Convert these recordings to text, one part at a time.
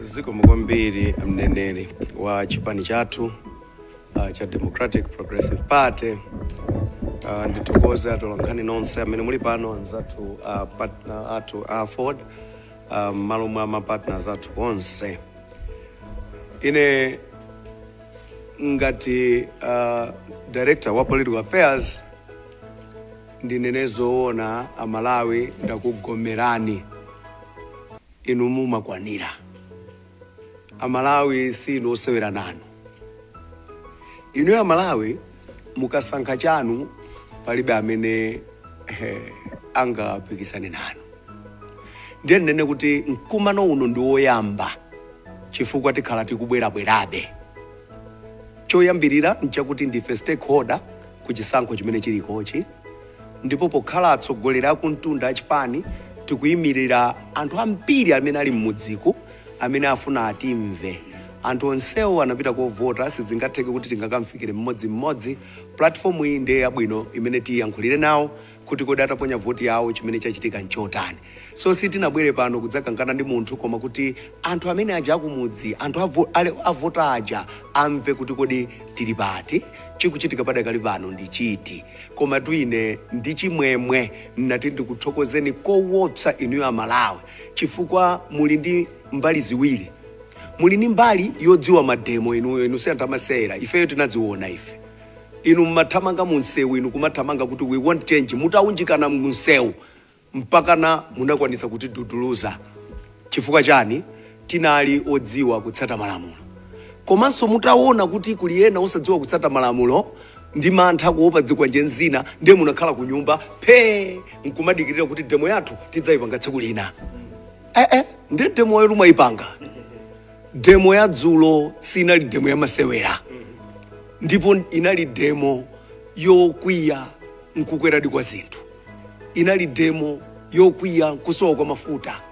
zikomo kwambiri mneneri wa chipani chathu uh, cha democratic progressive party uh, ndithokoze atolankhani nonse amene muli pano anzathu uh, partner athu a ford uh, mmalo mwa mapartners athu onse ine ngati uh, director wa political affairs ndinene zoona amalawi ndakugomerani inu mumakwanira amalawi si inu osewera nanu inu amalawi mukasankha chanu palibe amene eh, angapikisane nanu ndiye ndinene kuti mkumano uno ndi woyamba chifukwa tikhala tikubwerabwerabe choyambirira nchakuti ndife stakeholder ku chisankho chimene chilikochi ndipo pokhala atsogoleri akumtunda achipani tikuimilira anthu ambiri amene ali mmudziku amene afuna atimve anthu onsewo anapita kovota sizingatheke kuti tingakamfikire mmodzi mmodzi platform iyi ndiye yabwino imene tiyankhulire nawo kuti kodi ataponya voti yawo chimene chachitika nchotani. So sitinabwere pano kudzakangana ndi munthu koma kuti anthu amene aja akumudzi, anthu avo, ale, avota aja amve kuti kodi tili pati, chikuchitika padakali pano ndi chiti. Komatu ine ndi chimwemwe nnati ndikuthokozeni kowopsa inuyo a Malawi chifukwa muli ndi mbali ziwiri muli ndi mbali yodziwa mademo inuyo inu si anthu amasewera ifeyo tinadziona ife inu mumathamanga mu msewu, inu kumathamanga kuti we want change, mutawunjikana mu msewu mpakana munakwanitsa kutiduduluza. Chifukwa chani? Tinali odziwa kutsata malamulo. Komanso mutawona kuti kuli ena osadziwa kutsata malamulo ndi mantha kuopa zikwanje zina, ndiye munakhala kunyumba phee nkumadikirira kuti demo yathu tidzayipanga tsiku lina. Eh eh, ndiye demoyotu mwayipanga. demo ya dzulo sinali demo ya masewera ndipo inali demo yokwiya nkukweradi kwa zinthu inali demo yokwiya nkusowa kwa mafuta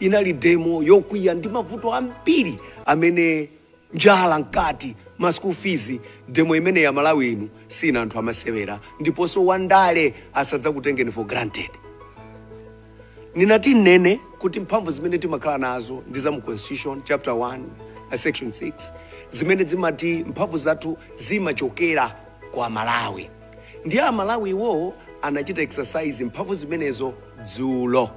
inali demo yokwiya ndi mavuto ambiri amene njala mkati ma school fees demo imeneyo amalawi inu sinu anthu amasewera ndiponso wandale asadzakutengeni for granted Ninati ninene kuti mphamvu zimene timakhala nazo ndi za mu Constitution, Chapter 1, Section 6, zimene zimati mphamvu zathu zimachokera kwa aMalawi. Ndiye a Malawiwo anachita exercise mphamvu zimenezo dzulo.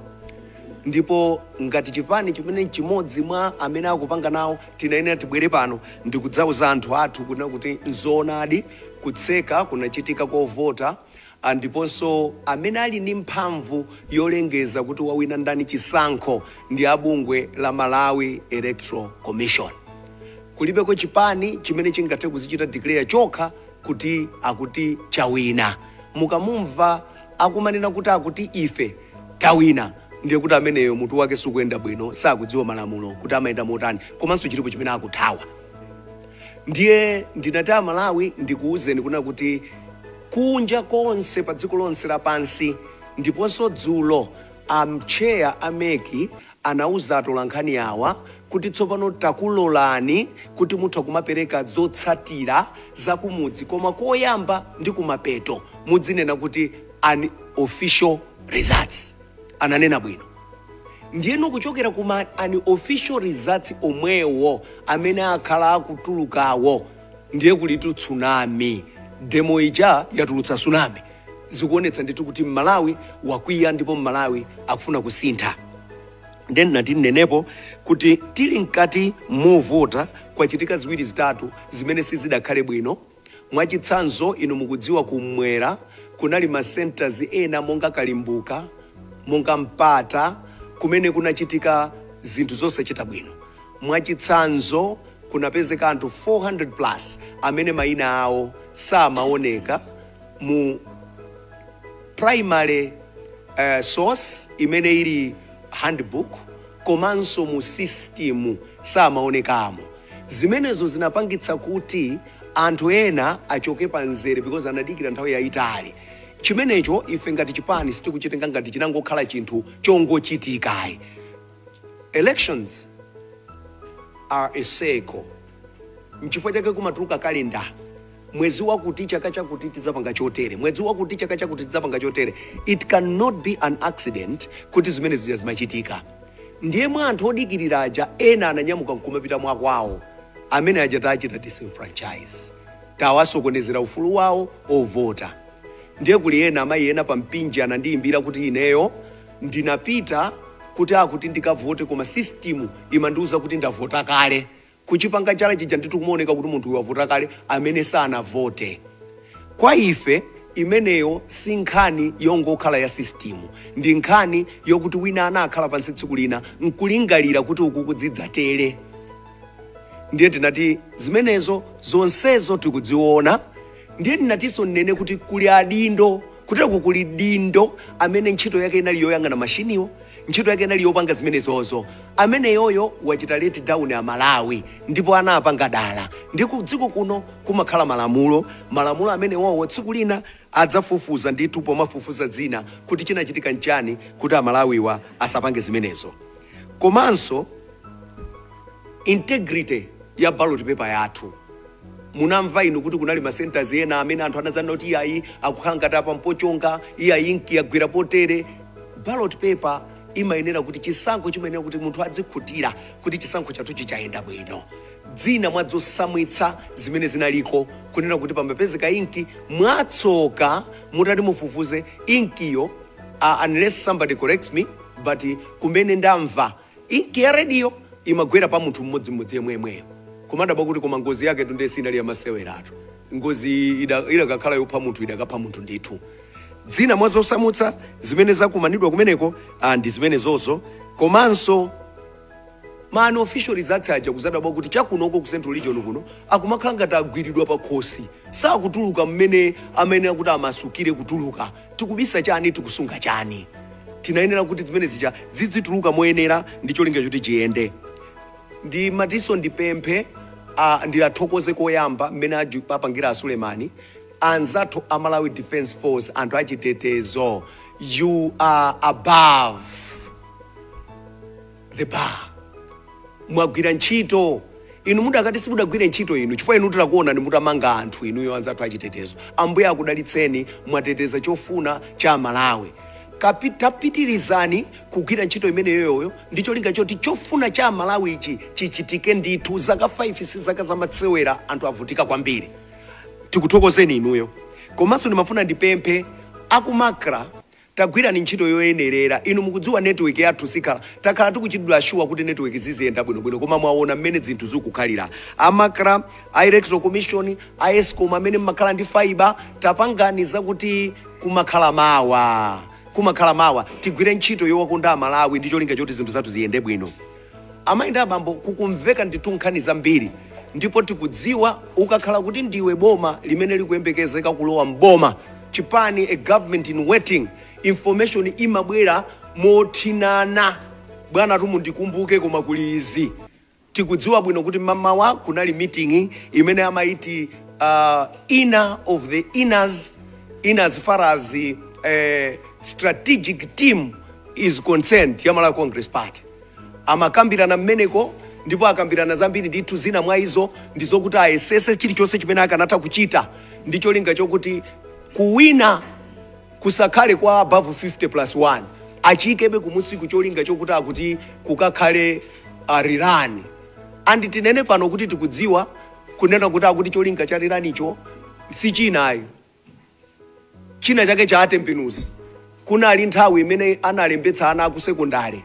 Ndipo ngati chipani chimene nchimodzi mwa amene akupanga nawo tinayenera tibwere pano ndikudzauza anthu athu kunena kuti nzoonadi kutseka kunachitika kovota Ndiponso amene ali ndi mphamvu yolengeza kuti wawina ndani chisankho ndi a bungwe la Malawi Electoral Commission. Kulibeko chipani chimene chingathe kuzichita declare chokha kuti akuti chawina. Mukamumva akumanena kuti akuti ife tawina ndiye kuti ameneyo mutu wake sukuyenda bwino, sakudziwa malamulo kuti amayenda motani komanso chilipo chimene akuthawa. Ndiye ndinati Amalawi ndikuuzeni kuna kuti kunja konse pa dziko lonse lapansi ndiponso dzulo a mtcheya a mec anauza atolankhani awa kuti tsopano takulolani kuti mutha kumapereka zotsatira za kumudzi koma koyamba ndi kumapeto mudzinena kuti unofficial results. ananena bwino ndiyeno kuchokera ku ma unofficial results omwewo amene akhala akutulukawo ndiye kulitu tsunami demo ija yatulutsa tsunami zikuonetsa ndithu kuti mmalawi wakwiya ndipo mmalawi akufuna kusintha ndiye ndinati ndinenepo kuti tili mkati movota kwachitika ziwiri zitatu zimene sizidakhale bwino Mwachitsanzo, inu mukudziwa Kummwera kunali ma centres ena monga Kalimbuka, monga Mpata, kumene kunachitika zinthu zosachita bwino. Mwachitsanzo, kunapezeka anthu 400 plus amene maina awo samaoneka mu primary source imene ili handbook. komanso mu sisitimu samaonekamo. Zimenezo zinapangitsa kuti anthu ena achoke pa mzere because anadikira nthawi yayitali. Chimenecho ife ngati chipani sitikuchitenga ngati chinangokhala chinthu chongochitika ayi. Elections are a cycle. N'chifukwa chake kumatuluka calendar. mwezi wakuti chaka chakuti tidzapanga chotere, mwezi wakuti chaka chakuti tidzapanga chotere. It cannot be an accident kuti zimene zija zimachitika. Ndiye mwa anthu odikirira aja ena ananyamuka nkumapita mwakwawo, amene aja tachita disenfranchise, tawasokonezera ufulu wawo ovota. Ndiye kuli ena amayi ena pa Mpinji anandiyimbira kuti ineyo ndinapita kuti akuti ndikavote koma system imandiuza kuti ndavota kale. kuchipanga chala chija ndithu kumaoneka kuti munthu uyu wavota kale amene sanavote. Kwa ife imeneyo si nkhani yongokhala ya sisitimu, ndi nkhani yokuti wina anakhala pansi tsiku lina n'kulingalira kuti uku kudzidzatere. Ndiye tinati zimenezo zonsezo tikudziona, Ndiye ndinatinso ndinene kuti kuli adindo, kutereku kuli m'dindo amene ntchito yake inali yoyang'ana mashiniwo, ntchito yake inali yopanga zimenezozo. Ameneyoyo wachita let down a Malawi ndipo anapanga dala. Ndiye ku dziko kuno kumakhala malamulo, malamulo amenewowo tsiku lina adzafufuza ndithu pomafufuza zina kuti chinachitika nchani kuti a Malawiwa asapange zimenezo. komanso integrity ya ballot paper yathu munamva inu kuti kunali ma centers ena amene anthu anadzanena kuti iyayi akukhala ngati apa mpochonga iyayi inki yagwera potere ballot paper imayenera kuti chisankho chimayenera kuti munthu adzikhutira kuti chisankho chathuchi chayenda bwino zina mwa zosamvetsa zimene zinaliko kunena kuti pamapezeka inki mwatsoka mutati mufufuze inkiyo uh, unless somebody corrects me but kumene ndamva inkiyo idayo imagwera pa munthu mmodzimodzi yemweyemweyo kumadabwa kuti koma ngozi yaketu ndiye sinali yamaseweratu ngozi iyi ida- idakakhala yopha munthu idakapha munthu ndithu zina mwa zosamvetsa zimene zakumanidwa kumeneko ah, ndi zimenezozo komanso Ma unofficial results aja kudzadabwa kuti chakunoko ku central region kuno akumakhala ngati agwiridwa pakhosi sakutuluka mmene amayenera kuti amasukire kutuluka. Tikubisa chani? Tikusunga chani? Tinayenera kuti zimene zija zidzituluka moyenera ndi cholinga choti chiyende. Ndimatinso ndipemphe a, ndiathokoze koyamba mmene aju- apangira a Suleman anzathu a Malawi Defence Force anthu achitetezo you are above the bar mwagwira ntchito inu mudakati simudagwire ntchito inu chifukwa inu tikukuonani mutamanga anthu inuyo anzathu achitetezo ambuye akudalitseni mwateteza chofuna cha amalawi Kapi- tapitirizani kugwira ntchito imeneyoyo ndi cholinga choti chofuna cha amalawi ichi chichitike ndithu zaka 5 si zaka zamasewera anthu avutika kwambiri tikuthokozeni inuyo komanso ndimafuna ndipemphe a ku MACRA Tagwirani ntchito yoyenerera. Inu mukudziwa network yathu sikhala, takhala tikuchitidwa assure kuti network ziziyenda bwino bwino koma mwaona mmene zinthu zikukhalira. A MACRA, a electoral commission, a ESCOM amene mmakhala ndi fibre tapangani zakuti kumakhala mawa, kumakhala mawa. Tigwire ntchito yowakonda amalawi ndi cholinga choti zinthu zathu ziyende bwino. Amayi ndi abambo kukumveka ndithu nkhani zambiri ndipo tikudziwa ukakhala kuti ndiwe boma limene likuyembekezeka kulowa m'boma, chipani, a government in waiting, information imabwera mothinana bwanatu mundikumbuke koma kuli izi. Tikudziwa bwino kuti m'mamawa kunali meeting imene amayiti uh, inner of the inners in as far as uh, strategic team is concerned ya Malawi Congress Party. Amakambirana mmeneko ndipo akambirana zambiri ndithu, zina mwa izo ndi zokuti ayesese chilichonse chimene akanatha kuchita ndi cholinga chokuti kuwina kusakhale kwa above 50 plus 1, achiikebe kumunsiku cholinga chokuti akuti kukakhale uh, rerun and tinene pano kuti tikudziwa kunena kuti akuti cholinga cha rerun-cho si china ayi china chake cha atembenuzi kunali nthawi imene analembetsa ana akusekondale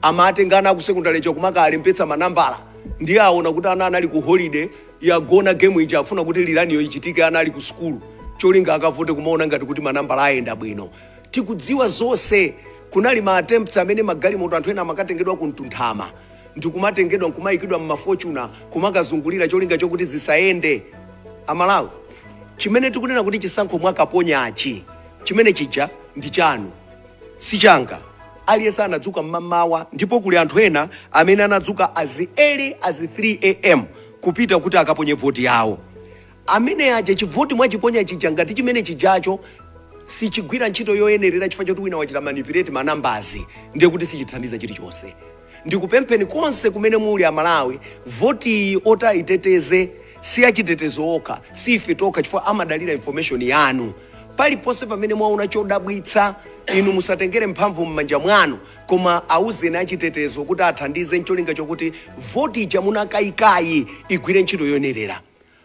amatenga ana akusekondale nkumakalembetsa manambala ndiye aona kuti ana anali ku holiday yagona game ija afuna kuti rerun-yo ichitike ana ali ku sukulu cholinga akavote kumaona ngati kuti manambala ayenda bwino tikudziwa zonse kunali ma attempts amene magalimoto anthu ena amakatengedwa ku mtunthama ndikumatengedwa nkumaikidwa mma fortuner kumakazungulira cholinga chokuti zisayende. A Malawi chimene tikunena kuti chisankho munakaponyachi chimene chija ndi chanu si changa. Aliyense anadzuka mmamawa ndipo kuli anthu ena amene anadzuka as early as 3 am kupita kuti akaponye voti yawo. Amene aja chivoti mwachiponya chija ngati chimene chijacho sichigwira ntchito yoyenerera chifukwa choti wina wachita manipulate ma numbers ndiye kuti sichithandiza chilichonse. Ndikupempheni konse kumene muli amalawi voti iyi oti ayiteteze siachitetezo okha si ife tokha chifukwa amadalira information yanu. Paliponse pamene mwaona chodabwitsa inu musatengere mphamvu mmanja mwanu koma auzeni achitetezo kuti athandize ncholinga chokuti voti ija munakaikayi igwire ntchito yoyenerera.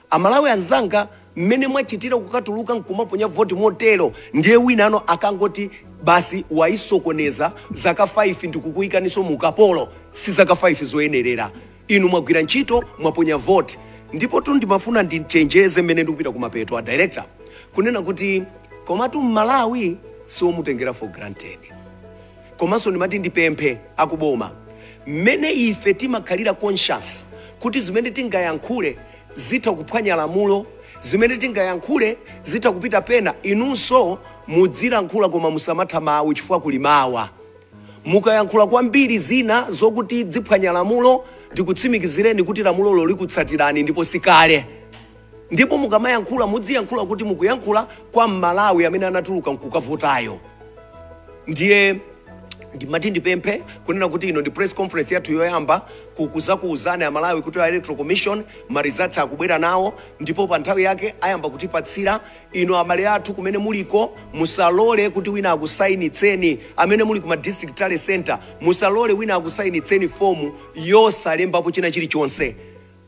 Amalawi anzanga mmene mwachitira kukatuluka nkumaponya voti motero ndiye winano akangoti basi wayisokoneza zaka 5 ndikukuyikaninso mu ukapolo si zaka 5 zoyenerera inu mwagwira ntchito mwaponya voti ndipotu ndimafuna ndichenjeze mmene ndikupita kumapeto a director kunena kuti komatu mmalawi siomutengera for granted. Komanso ndimati ndipemphe aku boma, mmene ife timakhalira conscious kuti zimene tingayankhule zitha kuphwanya lamulo, zimene tingayankhule zitha kupita pena, inunso mudzilankhula koma musamatha mawu chifukwa kuli mawa. Mukayankhula kwambiri zina zokuti ziphwanya lamulo, ndikutsimikizireni kuti lamulolo likutsatirani ndipo sikale. Ndipo mukamayankhula mudziyankhula kuti mukuyankhula kwa m'Malawi amene anatuluka nkukavotayo. Ndiye ndimati ndipemphe kunena kuti ino ndi press conference yathu yoyamba kukuzakuuzani aMalawi kuti a Electoral Commission ma results akubwera nawo ndipo pa nthawi yake ayamba kutipatsira. Inu abale athu kumene muliko musalole kuti wina akusayinitseni, amene muli ku ma district tally centre musalole wina akusayinitseni fomu yosalembapo china chilichonse.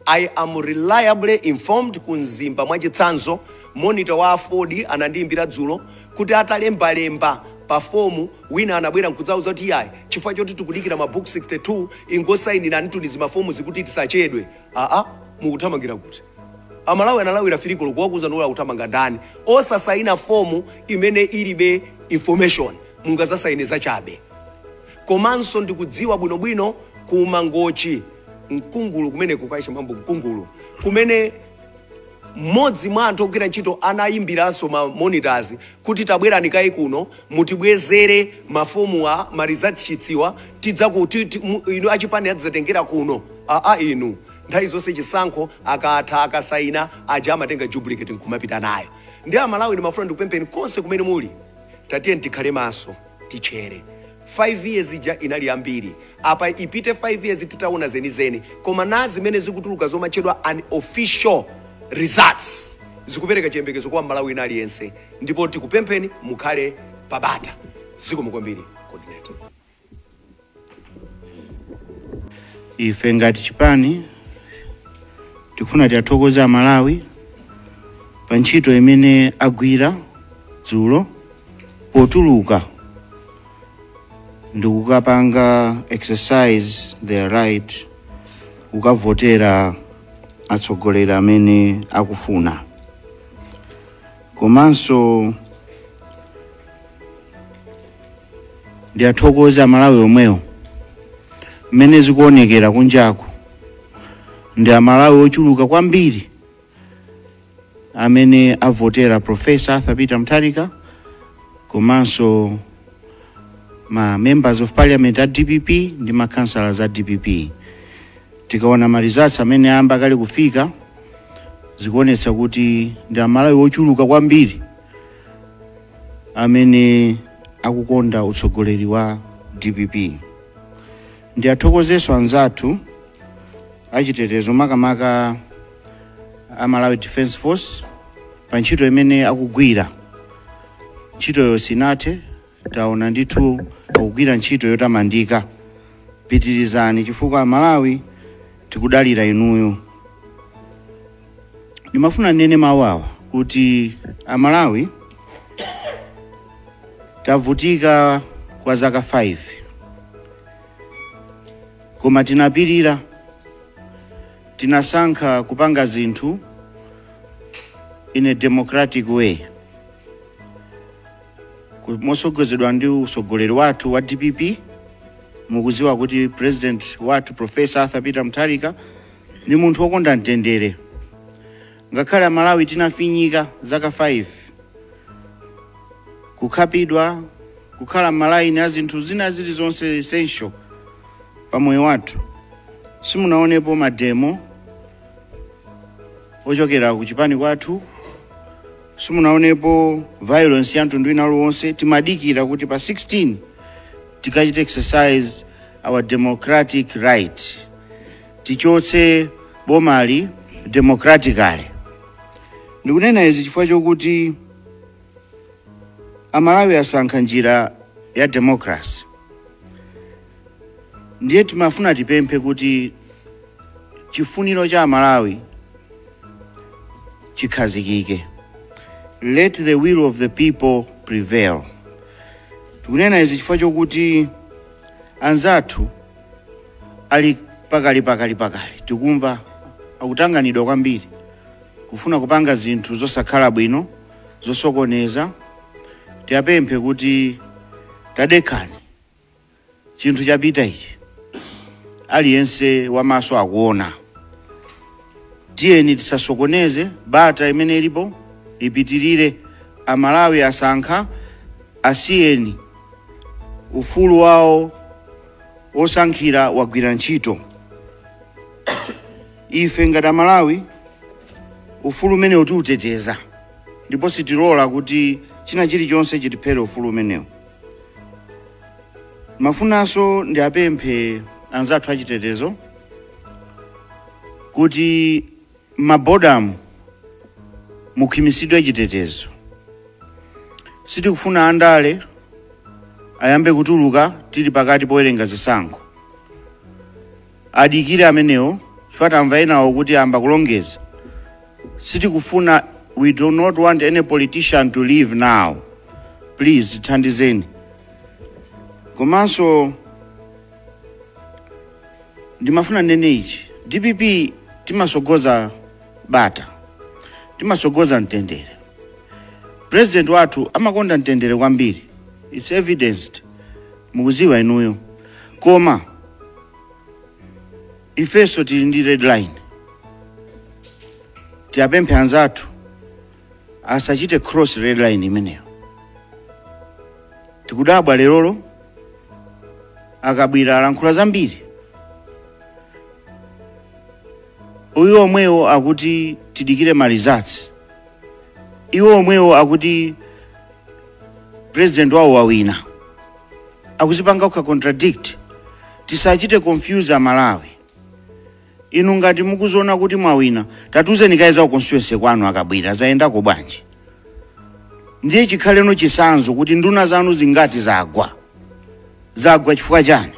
I am reliably informed ku Mzimba mwachitsanzo, monitor wa AFORD anandiimbira dzulo kuti atalembalemba pa form wina anabwera nkudzauza kuti iyayi chifukwa choti tikudikira ma book 62 ingosainiranitu ni zimafomuzi kuti tisachedwe. Aa mukuthamangira kuti? Amalawi analawira 3 koloko wakuuzani akuthamanga ndani? Osasaina form imene ilibe information mungazasaine zachabe. komanso ndikudziwa bwinobwino ku Mangochi Mkungulu kumeneku kwa mambo Mkungulu kumene mmodzi mwa anthu ogwira ntchito anayimbiranso ma monitors kuti tabwerani kaye kuno mutibwezere mafomuwa ma results sheets-wa tidzaku ti- ti- mu- inu achipani adzatengera kuno aa inu nthawi zonse chisankho akatha akasaina aja amatenga duplicate nkumapita nayo ndi amalawi ndimafuna ndikupempheni konse kumene muli tatiyeni tikhale maso titchere 5 years ija inali yambiri apa ipite 5 years titaona zenizeni koma na zimene zikutuluka zomatchedwa unofficial results zikupereka chiyembekezo kwa mmalawi wina aliyense ndipo tikupempheni mukhale pabata zikomo kwambiri coordinator ife ngati chipani tikufuna tiyathokoze amalawi pa ntchito imene agwira dzulo potuluka ndikukapanga exercise their right kukavotera atsogoleri amene akufuna komanso ndiyathokoze amalawi omwewo mmene zikuonekera kunjaku ndi amalawi ochuluka kwambiri amene avotera professor arthur peter mutharika komanso ma members of parliament a dpp ndi ma councillors a dpp tikaona ma results amene ayamba kale kufika zikuonetsa kuti ndi amalawi ochuluka kwambiri amene akukonda utsogoleri wa dpp ndiyathokozeso anzathu achitetezo makamaka a malawi defense force pa ntchito imene akugwira ntchitoyo sinathe Taona ndithu akugwira ntchito yotamandika. Pitirizani chifukwa Amalawi tikudalira inuyo. Ndimafuna ndinene mawawa kuti Amalawi tavutika kwa zaka 5 koma tinapirira, tinasankha kupanga zinthu in a democratic way. Mosogozedwa ndi usogoleri wathu wa DPP mukuziwa kuti president wathu Professor Arthur Peter Mutharika ndi munthu wokonda mtendere. Ngakhale Amalawi tinafinyika zaka 5 kukhapidwa kukhala m'malaini a zinthu zina zilizonse essential pa moyo wathu simunaonepo mademo ochokera ku chipani kwathu simunaonepo violence ya mtundu wina uliwonse timadikira kuti pa 16 tikachite exercise our democratic right tichotse bomali democratically ndikunena izi chifukwa chokuti amalawi asankha njira ya democracy ndiye timafuna tipemphe kuti chifuniro cha amalawi chikhazikike let the will of the people prevail tikunena izi chifukwa chokuti anzathu ali pakali pakali pakali tikumva akutanganidwa kwambiri kufuna kupanga zinthu zosakhala bwino zosokoneza tiyapemphe kuti tadekhani chinthu chapita ichi aliyense wamaso akuona tiyeni tisasokoneze bata imene ilipo ipitirire amalawi asankha asiyeni ufulu wawo wosankhira wagwira ntchito ife ngati amalawi ufulu umenewu tiuteteza ndipo sitilola kuti china chilichonse chitiphere ufulu umenewu Mafunanso ndiapemphe anzathu achitetezo kuti m'mabodamu mukhwimitsidwe chitetezo. Sitikufuna andale ayambe kutuluka tili pakati powerenga zisankho. Adikire amenewo chifukwa tamva enawo kuti ayamba kulongeza. Sitikufuna, we do not want any politician to leave now. Please tithandizeni. Komanso ndimafuna ndinene ichi, DPP timasogoza bata, timasogoza mtendere. President wathu amakonda mtendere kwambiri, it's evidenced. mukuziwa inuyo koma ifeso tili ndi red line tiyapemphe anzathu asachite cross red line imeneyo tikudabwa lerolo a Kabwira alankhula zambiri iwo omwewo akuti tidikire ma results iwo omwewo akuti president wawo wawina akuzipanga okha contradict tisachite confuse amalawi inu ngati mukuziona kuti mwawina tatuzeni kaye za ku constituency kwanu a Kabwila zayendako bwanji ndiye chikhale chitsanzo kuti nduna zanu zingati zagwa zagwa chifukwa chani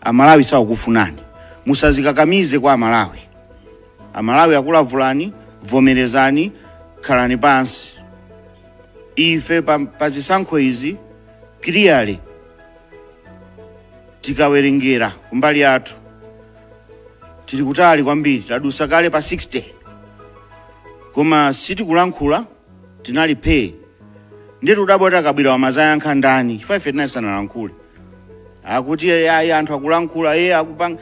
amalawi sakukufunani musadzikakamize kwa amalawi Amalawi akulavulani, vomerezani, khalani pansi. Ife pa, pa zisankho izi clearly tikawerengera kumbali yathu tili kutali kwambiri, tadusa kale pa 60 koma sitikulankhula tinali phee ndiye tudabwa kuti a Kabwila amayankha ndani chifukwa ife tinali tisanalankhule akuti ayi anthu akulankhula iye akupanga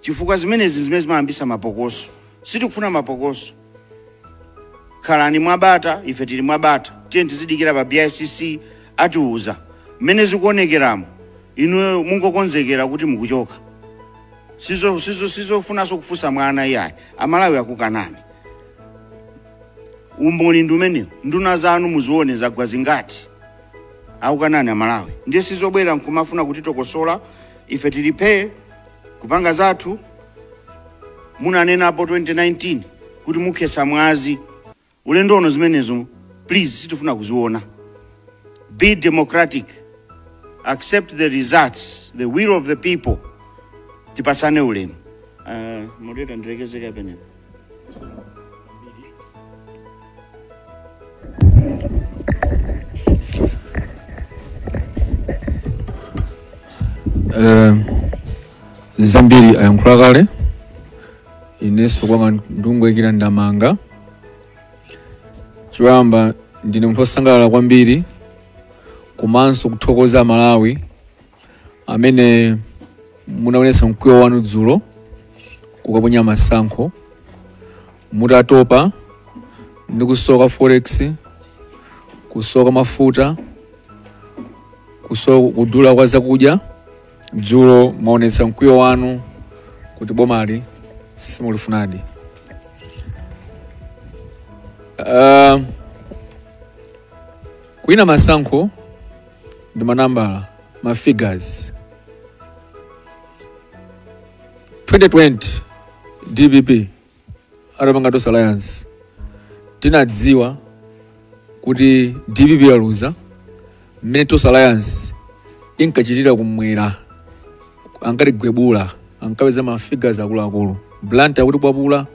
chifukwa zimenezi nzimene zimayambitsa mapokoso. Sitikufuna mapokoso. Khalani mwa bata ife tili mwa bata. Tiyeni tizidikirira pa BICC atiuza. Mmene zikuonekeramu inuyo mungokonzekera kuti mukuchoka. Sizo, sizo, sizofunanso kufunsa mwana iyayi. Amalawi akukanani. Umboni ndi umenewo. Nduna zanu muzione zagwa zingati. Akukanani Amalawi. Ndiye sizobwera nkumafuna kutitokosola ife tili phee. Kupanga zathu munanenapo 2019 kuti mukhetsa mwazi ulendo uno zimenezo please sitifuna kuziona be democratic accept the results the will of the people tipatsane ulemu uh, moderator ndilekeze kaye pamenepa Eh, zambiri ayankhula kale inenso kwanga nkungoyikira ndemanga choyamba ndine munthu wosangalala kwambiri komanso kuthokoza amalawi amene munaonetsa mkwiyo wanu dzulo kukaponya masankho mutatopa ndi kusowa kwa forex kusowa kwa mafuta kusowa kudula kwa zakudya dzulo mwaonetsa mkwiyo wanu kuti bomali simulifunadi uh, kuwina masankho ndi manambala ma figures 2020 dpp atapanga tonse alliance tinadziwa kuti dpp yaluza mmene tonse alliance inkachitira kumwera ankatigwebula ankapeza ma figures akuluakulu blantyre akutikwapula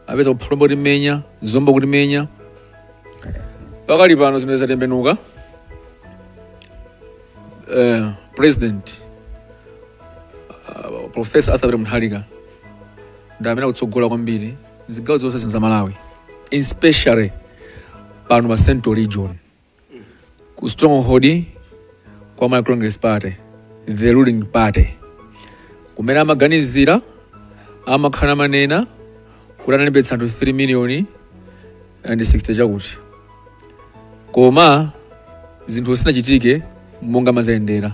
apeza ku Phalombe tikumenya Zomba tikumenya pakali pano zimene zatembenuka eh, president uh, professor Arthur Peter Mutharika ndi amene akutsogola kwambiri zigawo zonse zino za Malawi especially pano pa central region ku stronghold kwa Malawi Congress Party the ruling party kumene amaganizira amakhala akunena kuti analembetsa anthu 3 million and 60 chakuti koma zinthu sizinachitike monga mazayendera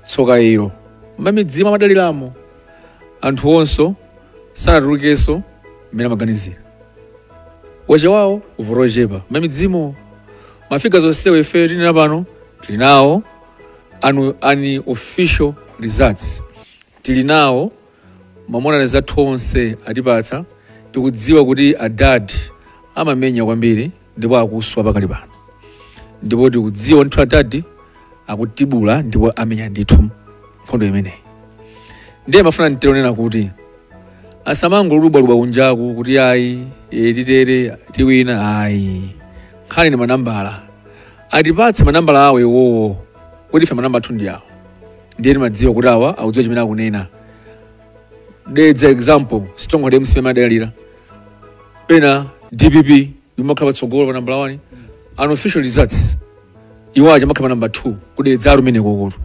tsoka ilo m'midzi amadaliramo anthu onso sanatulukenso mmene amaganizira achita kuvota ochepa m'midzimo mafiga zonsewo ife tinena pano tili nawo anu unofficial results tili nawo mamonita athu onse atipatsa tikudziwa kuti adadi amamenya kwambiri ndipo akuswa pakali pano ndipo tikudziwa ndithu adadi akutibula ndipo amenya ndithu nkhondo imeneyi ndiye ndimafuna ndingonena kuti asamangolubwalubwa kunjaku kuti ayi e, titere tiwina ayi nkhani ndi manambala atipatse manambala awo iwowo poti ife manamba athu ndi awo ndiye timadziwa kuti awa akudziwa chimene akunena dedza example stronghold MCP amadalira pena dpp imakhala patsogolo pa nambala 1 unofficial results iwo aja amakhala pa namba 2 ku Dedza kumenekoto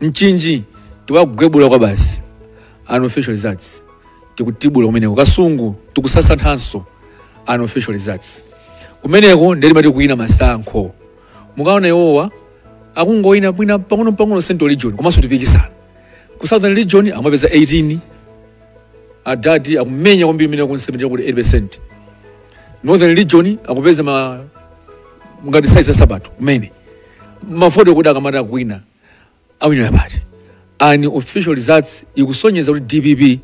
Mchinji tiwagwebula kwa basi unofficial results tikutibula kumeneko Kasungu tikusasanthanso unofficial results kumeneko ndiye timati kuwina masankho mukaona iwowa akungowina wina pang'onopang'ono central region komanso tikupikisana ku southern region amapeza 18 adadi akumenya kwambiri imene ku 70 kuti 8 percent northern region akupeza ma ngati size ya nsapato kumene mavoti kuti akamati akuwina awinira pati unofficial results ikusonyeza kuti dpp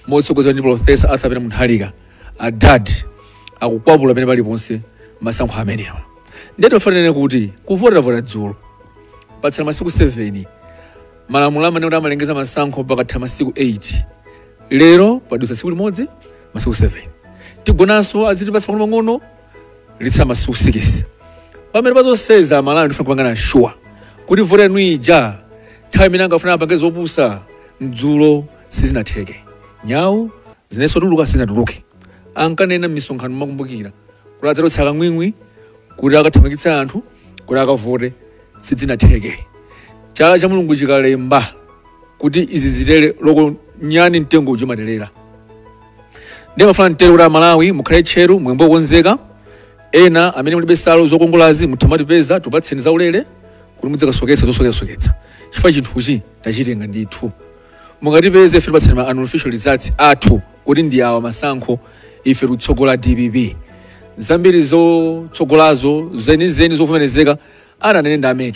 motsogozedwa ndi profesa Arthur Peter Mutharika adadi akukwapula pena paliponse masankho amenewa ndiye tofuna tinene kuti kuvota tavota dzulo patsala masiku 7 malamulo amanena kuti amalengeza masankho pakatha masiku 8 lero padutsa tsiku limodzi masiku 7 tigonanso azitipatsa pang'onopang'ono litsa masiku sikisi pamene pazosezo Amalawi ndifuna kupangana shuwa kuti vote yanu ija nthawi imene ankafuna apange zopusa dzulo sizinatheke nyawu zinenso kutuluka sizinatuluke ankanena m'misonkhano mukukumbukira kuti adzatulutsa kang'wing'wi kuti akathamangitse anthu kuti akavote sizinatheke chala cha mulungu chikalemba kuti izi zitere likakwana nyani mtengo uja umaterera ndimafuna ntero kuti amalawi mukhale tcheru mwembo okonzeka ena amene mulibe nsalu zokongolazi muthamatipeza tikupatseni zaulere kuti mudzikasoketsa zosoketsasoketsa chifukwa chinthuchi tachitenga ndithu mukatipeze ife tikupatseni ma unofficial results athu kuti ndi awa masankho ife tikutsogola dpp zambiri zotsogolazo zenizeni zovomerezeka atanene ndi a mec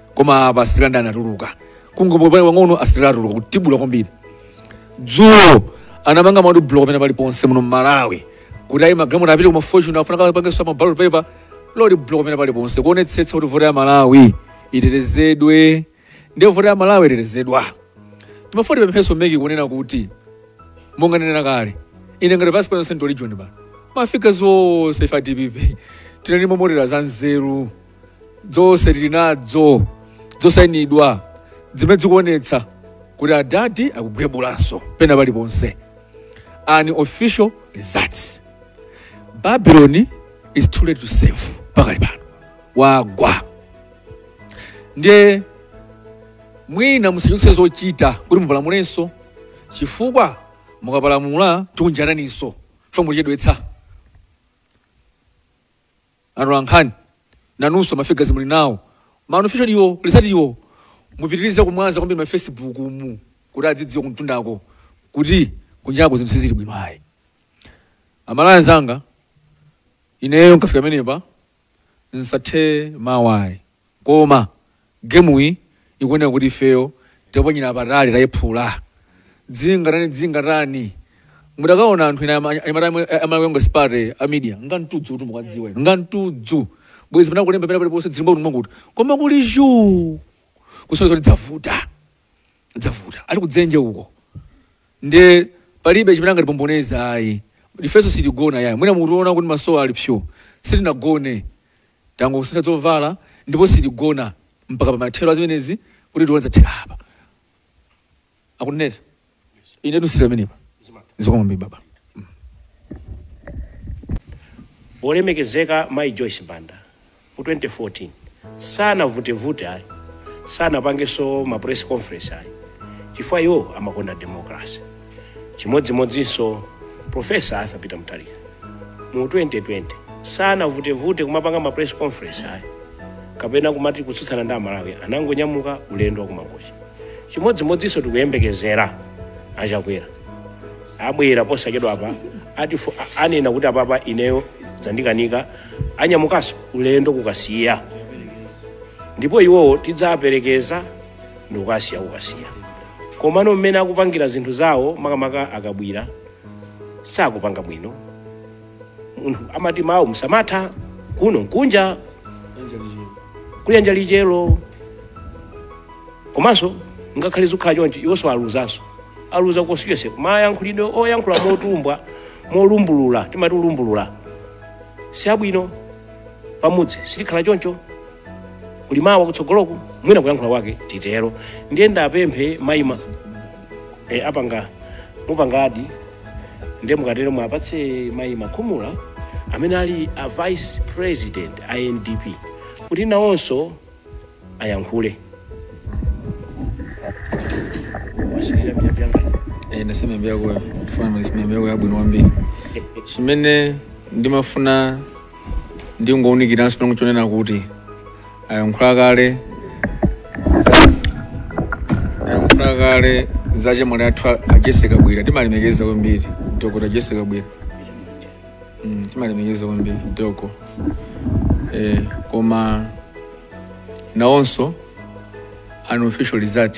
koma apa asirikali ndiye atuluka kungopopani pang'ono asirikali atuluka kutibula kwambiri dzulo anamanga ma road block pena pali ponse muno mmalawi kuti ayi magalimoto apite kuma fattani afuna akapangenso ma ballot paper road block pena pali ponse kuonetsetsa kuti vote ya malawi itetezedwe ndiye vote ya malawi itetezedwa timafuna tipemphenso mec kunena kuti monga ndinanena kale ine ngati vice president wa central region pa ma figures onse ife a dpp tinali ma monitors anzeru zonse tili nadzo zosainidwa zimene zikuonetsa kuti adadi akugwebulanso pena paliponse unofficial results babylon is too late to save pakali pano wagwa ndiye mwina musachotse zochita kuti mupalamulenso chifukwa mukapalamula tikunjataninso chifukwa muchedwetsa Atolankhani nanunso ma figures muli nawo. Ma unofficial wo, results wo mupitirize kumwaza kwambiri ma Facebook mu kuti adzidziwe kumtundako kuti kunjako zinthu sizili bwino ayi. Amalawi anzanga, ineyo nkafika pamenepa nsathe mawu ayi. koma gemuyi ikuoneka kuti ifeyo taponyera patali tayiphula dzingatani dzingatani mudakaona anthu ena ama- anyamata amwe- a malawi congress party a media ngantudzu kuti mukudziwa inu ngantudzu bwezi pena akulemba pena paliponse dzimba kuti mwakuti koma kuli zhuu kusonyeza kuti dzavuta dzavuta ali kudzenje uko nde palibe chimene angatipomboneza ayi ifenso sitigona yayi mwina mutiona kuti masowa ali psuu sitinagone Tangosintha zovala ndipo sitigona mpaka pamathero a zimenezi kuti tione zathera apa. Akunenera. Inetu nsiyire pamenepa. Zikomo kwambiri baba. Olemekezeka Mayi Joyce Banda mu 2014 sanavutevute ayi, sanapangenso ma press conference ayi, chifukwa iwo amakonda democracy. chimodzimodzinso profesa arthur peter mutharika mu 2020 sanavutevute kumapanga ma press conference ayi kapena kumati kutsutsana ndi amalawi anangonyamuka ulendo wa ku mangochi chimodzimodzinso tikuyembekezera a chakwera abwera posachedwa apa ati fo- a- anena kuti apapa ineyo dzandikanika anyamukanso ulendo ku kasiya ndipo iwowo tidzaperekeza ndikukasiya kukasiya komano mmene akupangira zinthu zawo makamaka a kabwila sakupanga bwino munthu amati mawu msamatha kuno nkunja kuyanja lichero komanso ngakhale zikhala chonchi iwonso aluzanso aluza constituency mayankhulidwe oyankhula motumbwa molumbulula timati ulumbulula si abwino pamudzi sitikhala choncho kuli mawa kutsogoloku mwina kuyankhula kwake titero ndiye ndapemphe mayi ma e, apanga mupangadi ndiye mukatero mwapatse mayi makhumula amene ali a vice president a ndp kuti nawonso ayankhule Wasirira miyapi yanga. Eh, nasema mbia kwa kufanya maisha mbia kwa abwino wambiri chimene ndimafuna ndingowunikiranso pano chonena kuti ayankhula kale za- ayankhula kale za chemwali athu a- a jessie kabwila timalemekeza kwambiri dokota jessie kabwila Mm, timalemekeza kwambiri doko eh, koma nawonso unofficial result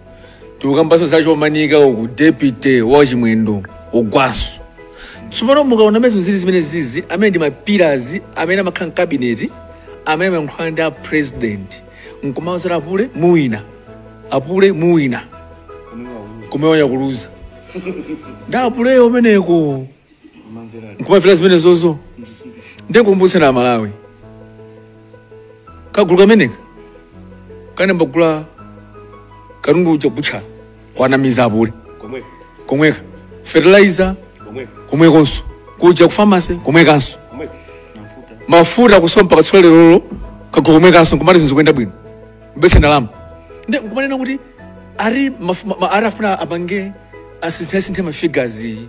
tikukambanso za chomanika uku deputy wa chimwendo ogwanso tsopano mukaona mmene zinthu zili zimene zizi amene ndi ma pillars amene amakhala mkabineti amene amayankhulana ndi a president nkumauzira apule muwina apule muwina kumewanya kuluza ndi apuleyo kumeneko nkumamvera zimenezozo ndikumbutsana amalawi kagulu kameneka kanayamba kugula katundu uja ku butcher kuwanamiza apule komweko komweka fertilizer komweko komwekonso kuja ku pharmacy komwekanso komweko mafuta kusowa mpaka tsiku lerolo kagulu komwekanso kumati zinthu zikuyenda bwino bese ndalama nde nkumanena kuti ari maf- ma- ma- ari afuna apange asinthe ma figures iyi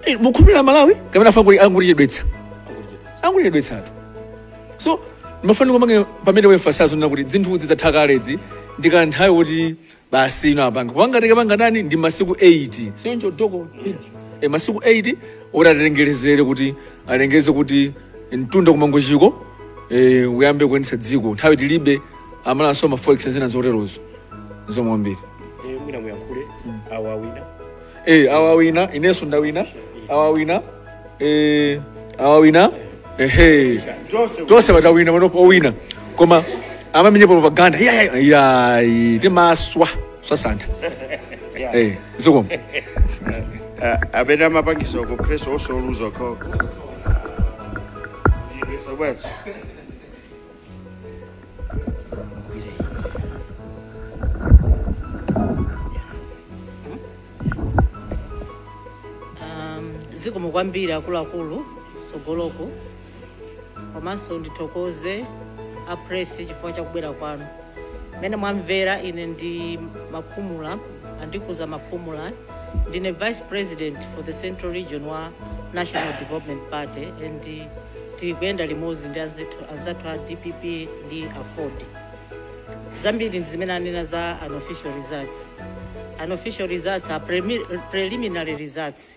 Eh, mukhulupirira malawi kapena afuna kuti angolichedwetsa angolichedwetsa anthu so mafani kumange pamene we emphasize zonena kuti zinthu zidatha kalezi ndi kanthawi kuti basi ino apanga angathe kupanga chani ndi masiku 8 si choncho doko e masiku 8 oti atengelezere kuti alengeze kuti mtunda kumangochiko eh, uyambe kuyendetsa dziko nthawi tilibe amalawi za ma forex zina zoterozo zikomo kwambiri Eh, mwina muyankhule awa awina eh, awa awina inenso ndawina awa awina eh, awa awina ehe tonse tonse patawina panopo owina koma amamenyepo propaganda yayi timaswa sasantha Yeah. eh zikomo Eh, amene amapangisa uko press also lose okho so bwanji um, zikomo kwambiri akuluakulu tsogoloko komanso ndithokoze a press chifukwa cha kubwera kwanu mmene mwamvera ine ndi makhumula andikuza makhumula ndine vice president for the central region wa national development party and tikuyenda limodzi ndi anzithu- anzathu a dpp ndi aford zambiri ndi zimene anena za unofficial results unofficial results are premi- preliminary results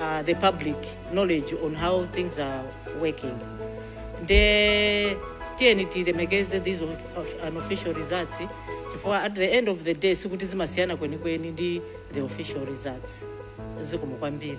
uh, the public knowledge on how things are working nde tiyeni tilemekeze these of, of unofficial results chifukwa at the end of the day sikuti zimasiyana kwenikweni ndi the official results zikomo kwambiri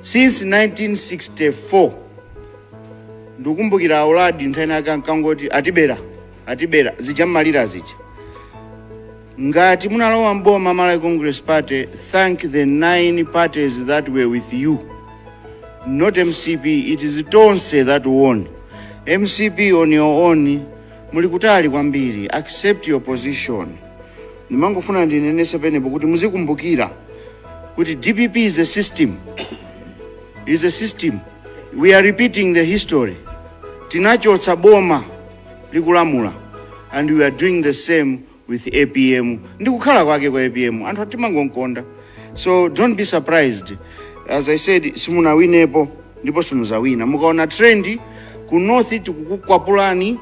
since 1964 ndikumbukira a uladi nthawi inayake ankangoti atibera atibera zija mmalira zija ngati munalowa mboma malawi congress party thank the nine parties that were with you not mcp it is tonse that won mcp on your own Muli kutali kwambiri, accept your position. Ndimangofuna ndinenese penepo kuti muzikumbukira kuti dpp is a system, is a system. We are repeating the history. Tinachotsa boma likulamula and we are doing the same with apm ndi kukhala kwake kwa apm anthu timangomkonda so don't be surprised as i said simunawinepo ndipo simuzawina mukaona trend ku north tikukukwapulani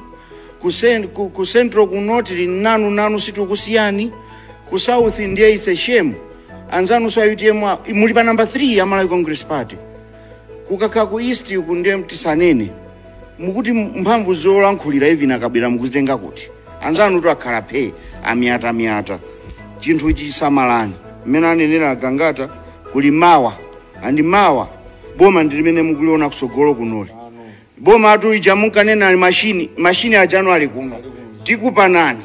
ku, cen- ku, ku central kuno tili nanu nanu sitikukusiyani ku south ndiye it's a shame anzanunso a utm a- muli pa number 3 a malawi congress party kukakhala ku east uku ndiye mtisanene mukuti mphamvu zolankhulira even a kabwila mukuzitenga kuti anzanutu akhala phe amyatamyata chinthuchi samalani mmene anenera a gangata kuli mawa andi mawa boma ndi limene mukuliona kusogolo kunoli Bomatu lija munkanena ali machine machine ajano ali kuno tikupanani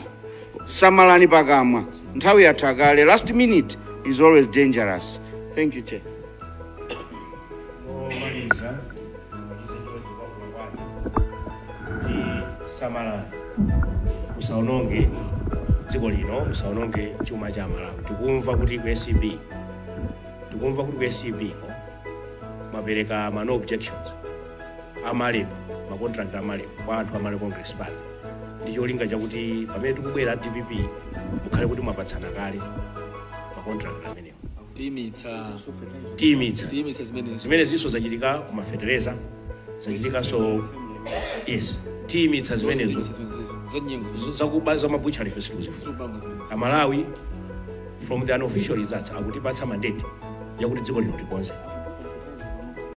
samalani pakamwa nthawi yatha kale last minute is always dangerous thank you chair omaliza samalani musaononge dziko lino musaononge chuma cha malawi tikumva kuti ku acb tikumva kuti ku acb ko mwapereka ma no objections a MAREP, ma contract a MAREP kwa anthu a Malawi Congress Party ndi cholinga chakuti pamene tikubwera dpp mukhale kuti mwapatsana kale ma contract amenewo tiyimitsa zimene zinso zachitika ku mafetereza zachitikanso yes tiyimitsa zimenezo zakuba za mabucha life amalawi from the unofficial results akutipatsa mandate yakuti dziko lino tikonze